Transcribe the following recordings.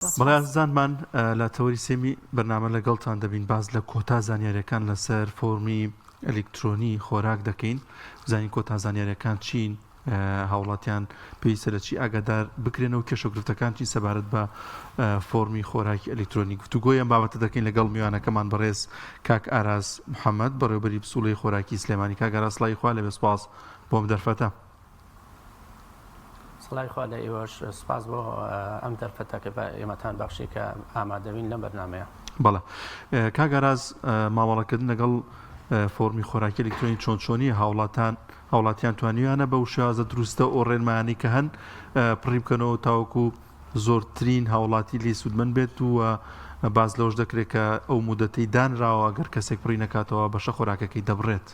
بەڵێ ئازیزانمان لە تەوەری سێمی بەرنامە لەگەڵتان دەبین باس لە کۆتا زانیاریەکان لەسەر فۆرمی ئەلیکترۆنی خۆراک دەکەین زانین کۆتا زانیاریەکان چین هاوڵاتیان پێویستە لە چی ئاگادار بکرێنەوە کێشەگرفتەکان چی سەبارەت بە فۆرمی خۆراکی ئەلیکترۆنی گفتوگۆیان بابەتە دەکەین لەگەڵ میوانەکەمان بەڕێز کاک ئاراز محەممەد بەڕێوبەری پسوڵی خۆراکی سلێمانی کاگەراسلای خوا لە بێسپاس بۆم دەرفەتە. سڵاوی خوا لە ئێوەش سپاس بۆ ئەم دەرفەتە کە بە ئێمەتان بەخشی کە ئامادەبین لەم بەرنمەیە بەڵێ کاگاراز مامەڵەکردن لەگەڵ فۆرمی خۆراکی ئەلکترۆنی چۆن چۆنی هاوڵاتان هاوڵاتیان توانیویانە بە وشازە دروستە ئەو ڕێنمایانی کە هەن پڕی بکەنەوە تاوەکو زۆرترین هاوڵاتی لی سوودمن بێت و باز لەوش دەکرێت کە ئەو مدەتەی دانراوە گەر کەسێک پڕی نکاتەوە بەشە خۆراکەکەی دەبڕێت.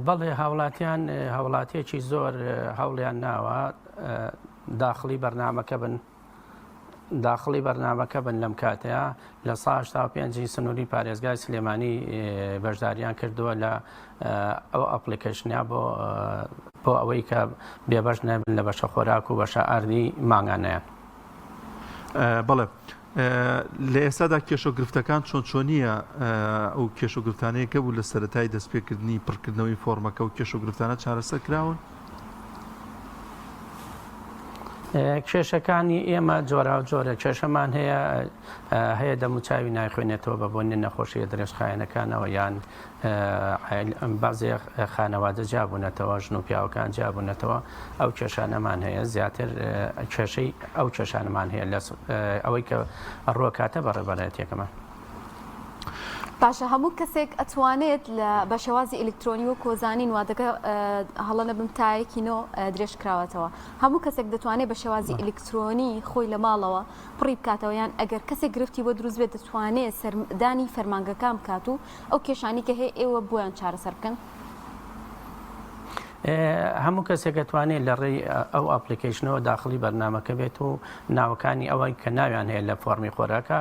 بەڵێ هاوڵاتیان هاوڵاتیەکی زۆر هەوڵیان ناوە داخلی بەرنمەکە بن داخلی بەرنمەکە بن لەم کاتەیە لە ساش تا پێنجی سنووری پارێزگای سلێمانی بەشداریان کردووە لە ئەو ئەپلیکەشنیا بۆ بۆ ئەوەی کە بێبەش نەبن لە بەشە خۆراک و بەشە ئاردی ماگانەیە بڵێ لە ئێستادا کێشە و گرفتەکان چۆن چۆنییە؟ ئەو کێشە و گرفتانەی کە بوو لە سەرەتای دەستپێکردنی پڕکردنەوەی فۆرمەکە و کێشە و گرفتانە چارەسەر کراون؟ کێشەکانی ئێمە جۆرا و جۆرە کێشەمان هەیە هەیە دەموچاوی نایخوێنێتەوە بە بۆنی نەخۆشیە درێژخایەنەکانەوە یان بەعزێ خانەوادە جیابوونەتەوە، ژن و پیاوەکان جیابوونەتەوە، ئەو کێشانەمان هەیە، زیاتر کێشەی ئەو کێشانەمان هەیە لە ئەوەی کە ڕوەکاتە بە ڕێبەرایەتیەکەمان. باشە هەموو کەسێک ئەتوانێت لە بە شێوازی ئەلکترۆنی وە کۆزانین وادەکە هەڵە نەبم تایەکی نۆ درێژ کراوەتەوە هەموو کەسێک دەتوانێت بە شێوازی ئەلکترۆنی خۆی لە ماڵەوە پڕی بکاتەوە یان ئەگەر کەسێک گرفتی بۆ دروست بێت دەتوانێت سەردانی فەرمانگەکان بکات و ئەو کێشانەی کە هەیە ئێوە بۆیان چارەسەر بکەن؟ هەموو کەسێک دەتوانێت لە ڕێی ئەو ئەپلیکەیشنەوە داخڵی بەرنامەکە بێت و ناوەکانی ئەوەی کە ناویان هەیە لە فۆڕمی خۆراکە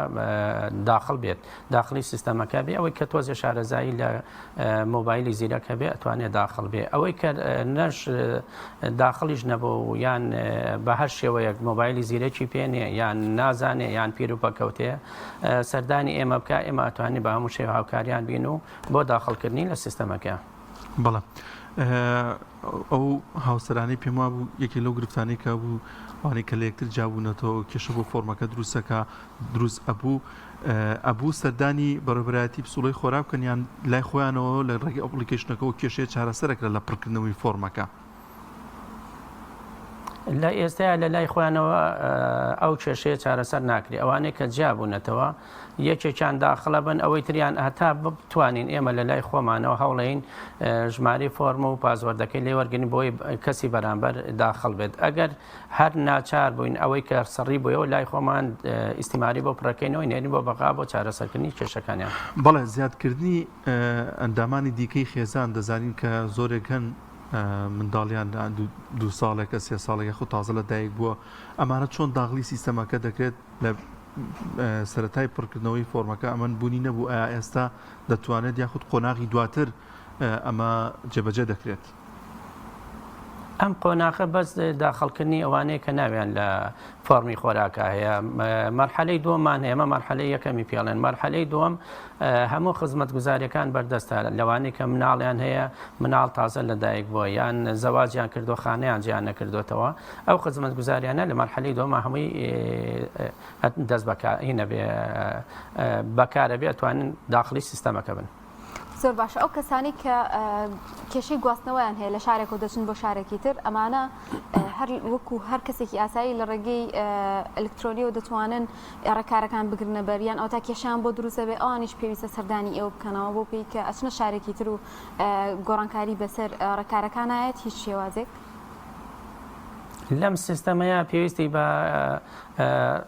داخڵ بێت. داخڵی سیستەمەکە بێ ئەوەی کە تۆزێ شارەزایی لە مۆبایلی زیرەک هەبێ ئەتوانێت داخڵ بێ ئەوەی کە نەش داخڵیش نەبوو و یان بە هەر شێوەیەک مۆبایلی زیرەکی پێێ یان نازانێ یان پیرروپەکەوتێ سەردانی ئێمە بکە ئێمە ئەتوانی بە هەموو شێ هاوکاریان بین و بۆ داخڵکردنی لە سیستەمەکە بڵە. ئەو هاوسەرانەی پێم وابوو یەکێک لەو گرفتانەی کە بوو ئەوانەی کە لە یەکتر جیابوونەتەوە و کێشە بۆ فۆرمەکە دروستەکە دروست ئەبوو ئەبوو سەردانی بەڕێبەرایەتی پسوڵەی خۆرا بکەن یان لای خۆیانەوە لە ڕێگەی ئەپلیکیشنەکەەوە کێشەیە چارەسەرەکرا لە پڕکردنەوەی فۆرمەکە لە ئێستایا لە لای خۆیانەوە ئەو کێشەیە چارەسەر ناکرێت ئەوانەیە کە جیابوونەتەوە یەکێکیان داخڵە بن ئەوەی تریان هەتا بتوانین ئێمە لە لای خۆمانەوە هەوڵێین ژماری فۆرمە و پازوەردەکەی لێ وەرگین بۆی کەسی بەرامبەر داخڵ بێت ئەگەر هەر ناچار بووین ئەوەی کە سڕی بۆیەوە لای خۆمان ئیسیماری بۆ پڕەکەینەوەی نێنی بۆ بەغا بۆ چارەسەرکردنی کێشەکانیان بەڵێ زیادکردنی ئەندامانی دیکەی خێزان دەزانین کە زۆرێک هەن منداڵیان دو ساڵێکە سێ ساڵێکە خو تازە لە دایک بووە ئەمانە چۆن داغلی سیستەمەکە دەکرێت لە سەرەتای پڕکردنەوەی فۆرمەکە ئەمەن بوونی نەبوو ئایا ئێستا دەتوانێت یاخود قۆناغی دواتر ئەمە جێبەجێ دەکرێت. ئەم قۆناخە بەس داخڵکردنی ئەوانەیە کە ناویان لە فۆرمی خۆراکە هەیە مەرحەلەی دووەمان ئێمە مەرحەلەی یەکەمی پێڵێن مەرحەلەی دووەم هەموو خزمەت گوزارەکان بەردەستە لەوانی کە مناڵیان هەیە مناڵ تازە لەدایک بۆ یان زەواجیان کردو خانیان جیان نەکردوێتەوە ئەو خزمەتگوزاریانە لە مەرحەلەی دووەما هەمووی دەست بە کار هی نەبێ بە کارە بێ ئەتوانن داخڵی سیستەمەکە بن. زۆر باشە ئەو کەسانی کە کێشەی گواستنەوەیان هەیە لە شارێک و دەچن بۆ شارێکی تر ئەمانە هەر وەکو هەر کەسێکی ئاسایی لە ڕێگەی ئەلکترۆنیەوە دەتوانن ڕێکارەکان بگرنە بەریان ئەو تا کێشیان بۆ دروستە بێ ئەوانیش پێویستە سەردانی ئێوە بکەنەوە بۆ پێی کە ئەچنە شارێکی تر و گۆڕانکاری بەسەر ڕێکارەکانایەت هیچ شێوازێک. لەم سیستەمەیە پێویستی بە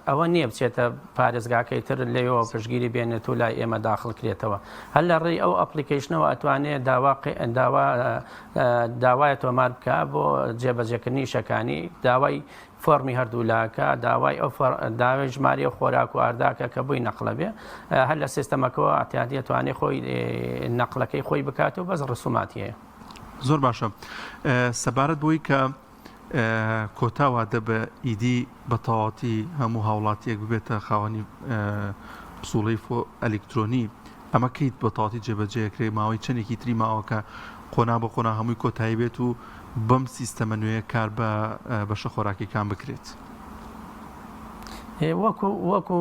ئەوە نییە بچێتە پارێزگاکەی تر لەوەوە پشگیری بێنێت و لای ئێمە داخل کرێتەوە هەر لە ڕێی ئەو ئەپلیکیشنەوە ئەتوانێت داوا داوا داوای تۆمار بکە بۆ جێبەجێکردنی شەکانی داوای فۆرمی هەردوولاکە داوای ئەو داوای ژماری و خۆراک و ئارداکە کە بووی نەقلە بێ هەر لە سیستەمەکەەوە ئاتیادیە توانێ خۆی نەقلەکەی خۆی بکات و بەس ڕسوماتیەیە زۆر باشە سەبارەت بۆی کە کۆتا وادە بە ئیدی بە تەواتی هەموو هاوڵاتیەک ببێتە خاوەنی پسوڵی فۆ ئەلکترۆنی ئەمە کەیت بە تاتی جێبەجێکرێ ماوەی چەندێکی تری ماوەکە قۆنا بە قۆنا هەمووی کۆتایی بێت و بەم سیستەمە نوێ کار بە بەشە خۆراکیەکان بکرێت وەکو وەکو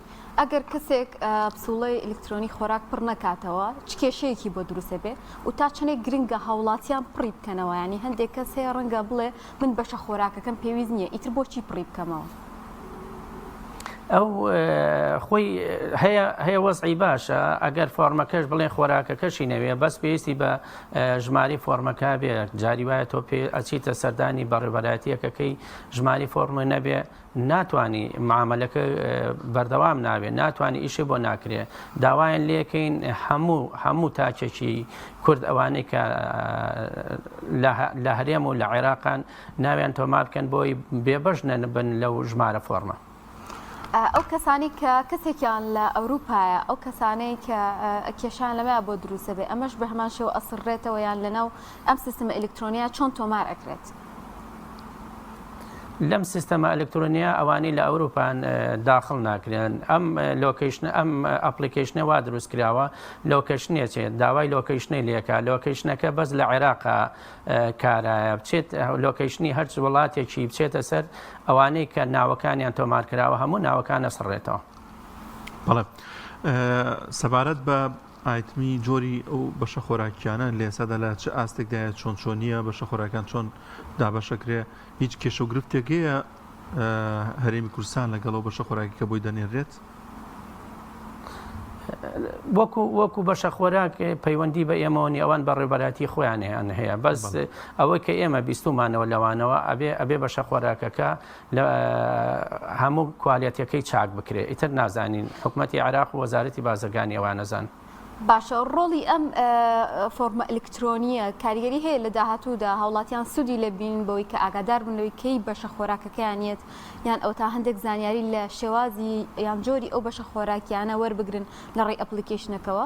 ئەگەر کەسێک پسوڵەی ئەلکترۆنی خۆراک پڕ نەکاتەوە چ کێشەیەکی بۆ دروستە بێ و تا چنێک گرنگە هاوڵاتیان پڕی بکەنەوە ینی هەندێک کەس هەیە ڕەنگە بڵێ من بەشە خۆراکەکەم پێویست نییە ئیتر بۆچی پڕی بکەمەوە ئەو خۆی هەیە هەیە وەزعی باشە ئەگەر فۆرمەکەش بڵێ خۆراکەکەشی نەوێ بەس پێویستی بە ژماری فۆرمەکە بێ جاری وایە تۆ پێ ئەچیتە سەردانی بەڕێبەراتیەکەکەی ژماری فۆرمە نەبێ ناتوانی معامەلەکە بەردەوام نابێ ناتوانانی ئیشێ بۆ ناکرێ داوایان لەکەین هەموو هەموو تاچێکی کورد ئەوانەی کە لە هەرێم و لە عێراقان ناویان تۆما بکەن بۆی بێبەش نەنبن لەو ژمارە فۆرمە ئەو کەسانی کە کەسێکیان لە ئەوروپایە ئەو کەسانەی کە کێشان لەمە بۆ دروستە بێ ئەمەش بە هەمان شێو ئەسڕێتەوە یان لەناو ئەم سیستمە ئەلکترۆنیا چۆن تۆمار ئەکرێت. لەم سیستەمە ئەلکترۆنیا ئەوانەی لە ئەوروپان داخل ناکرێن ئەم لۆکیشن ئەم ئەپلیکیشنە وا دروست کراوە لۆکەشنێ چێت داوای لۆکیشنەی لەکە لۆکیشنەکە بەس لە عێراق کارایە بچێت لۆکیشنی هەرچ وڵاتێکی بچێتە سەر ئەوانەی کە ناوەکانیان تۆمار کراوە هەموو ناوەکانە سڕێتەوە بەڵێ سەبارەت بە ئایتمی جۆری ئەو بەشە خۆراکیانە لە ئێستادا لە چ ئاستێکدایە چۆن چۆنیە بەشە خۆراکان چۆن دابەشەکرێ هیچ کێشە و گرفتێک هەیە هەرێمی کوردستان لەگەڵ و بەشە خۆراکی کە بۆی دەنێرێت وەکو وەکو بەشە خۆراک پەیوەندی بە ئێمەوەنی ئەوان بە ڕێبەراتی خۆیانیان هەیە بەس ئەوەی کە ئێمە بیستمانەوە لەوانەوە ئەبێ ئەبێ بەشە خۆراکەکە لە هەموو کوالێتەکەی چاک بکرێ ئیتر نازانین حکومەتی عێراق و وەزارەتی بازرگانی ئەوە نەزان. باشە ڕۆڵی ئەم فۆرمە ئەلکترۆنیە کاریگەری هەیە لە داهاتوودا هاوڵاتیان سوودی لە بین بەوەی کە ئاگادار بن لەوەی کەی بەشە خۆراکەکەیان یەت یان ئەو تا هەندێک زانیاری لە شێوازی یان جۆری ئەو بەشە خۆراکیانە وەربگرن لە ڕێی ئەپلیکیشنەکەەوە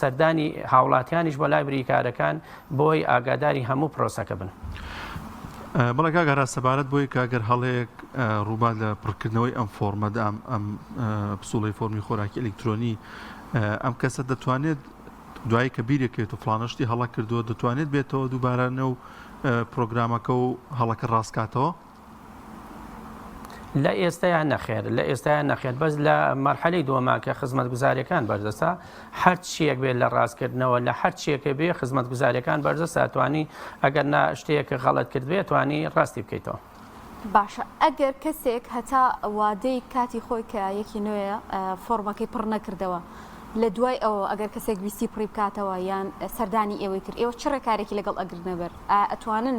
سەردانی هاوڵاتیانیش بۆ لای بریکارەکان بۆی ئاگاداری هەموو پرۆسەکە بن. بەڵێ کاک ئاراس سەبارەت بۆی کە گەر هەڵەیەک ڕووبات لە پڕکردنەوەی ئەم فۆرمە دام ئەم پسوڵی فۆرمی خۆراکی ئەلکترۆنی ئەم کەسە دەتوانێت دوایی کە بیرێکێت و فلانشتی هەڵە کردووە دەتوانێت بێتەوە دووبارانە و پرۆگرامەکە و هەڵەکە ڕاستکاتەوە لە ئێستایا نەخێر لە ئێستایا نەخێر بەس لە مەرحەلی دووەما کە خزمەتگوزارەکان بەردەسە هەر چیەک بێت لە ڕاستکردنەوە لە هەر چیەکە بێ خزمەتگوزارەکان بەرزە ساتوانی ئەگەر نا شتەیەکە غەڵت کردێت توانی ڕاستی بکەیتەوە. باشە ئەگەر کەسێک هەتا وادەی کاتی خۆی کە یەکی نوێە فۆرمەکەی پڕ نەکردەوە لە دوای ئەوە ئەگەر کەسێک ویستی پڕی بکاتەوە یان سەردانی ئێوەی کرد ئێوە چ ڕێکارێکی لەگەڵ ئەگرنەبەر ئەتوانن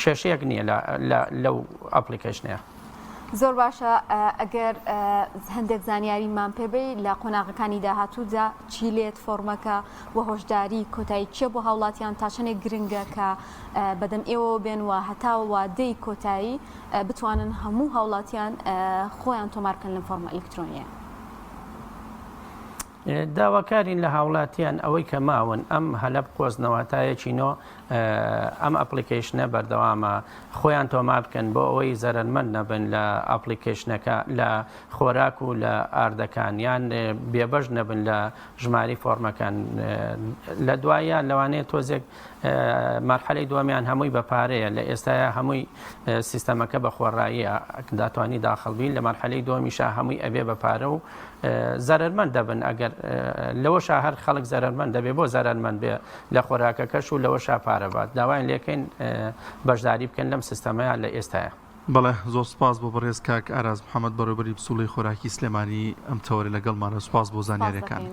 کێشەیەک نیە لەو ئەپڵیکەیشنەیە. زۆر باشە ئەگەر هەندێک زانیاری مان پێبی لە قۆناغەکانی داهاتوودا چی لێت فۆرمەکە و هۆشداری کۆتایی کیە بۆ هاوڵاتیان تاچەنێک گرنگە کە بەدەم ئێوە بێن و هەتاوە وادەی کۆتایی بتوانن هەموو هاوڵاتیان خۆیان تۆمارکەن لەم فۆرمە ئەلکترۆنیە. داواکارین لە هاوڵاتیان ئەوەی کە ماون ئەم هەلە بقۆزنە واتایەکی نۆ ئەم ئەپلیکەیشنە بەردەوامە خۆیان تۆمار بکەن بۆ ئەوەی زەرەرمەند نەبن لە ئەپلیکەیشنەکە لە خۆراک و لە ئاردەکان یان بێبەش نەبن لە ژماری فۆرمەکان لە دوایە لەوانەیە تۆزێک مەرحەلەی دووەمیان هەمووی بە پارەیە لە ئێستایا هەمووی سیستەمەکە بە خۆڕاییە داتوانی داخڵ بین لە مەرحەلەی دووەمیشا هەمووی ئەبێ بە پارە و زەرمەند دەبن ئەگەر لەوەشا هەر خەڵک زەرمەند دەبێ بۆ زەرمەند بێ لە خۆراکەکەش و لەوەشا پارەبات داوایان لەکەین بەشداری بکەن لەم سیستەمەیان لە ئێستاە. بەڵێ زۆر سپاس بۆ بەڕێز کاک ئاراز محەمەد بەڕێوبەری پسوڵەی خۆراکی سلێمانی ئەم تەوەرە لەگەڵمانە سپاس بۆ زانیارەکانت.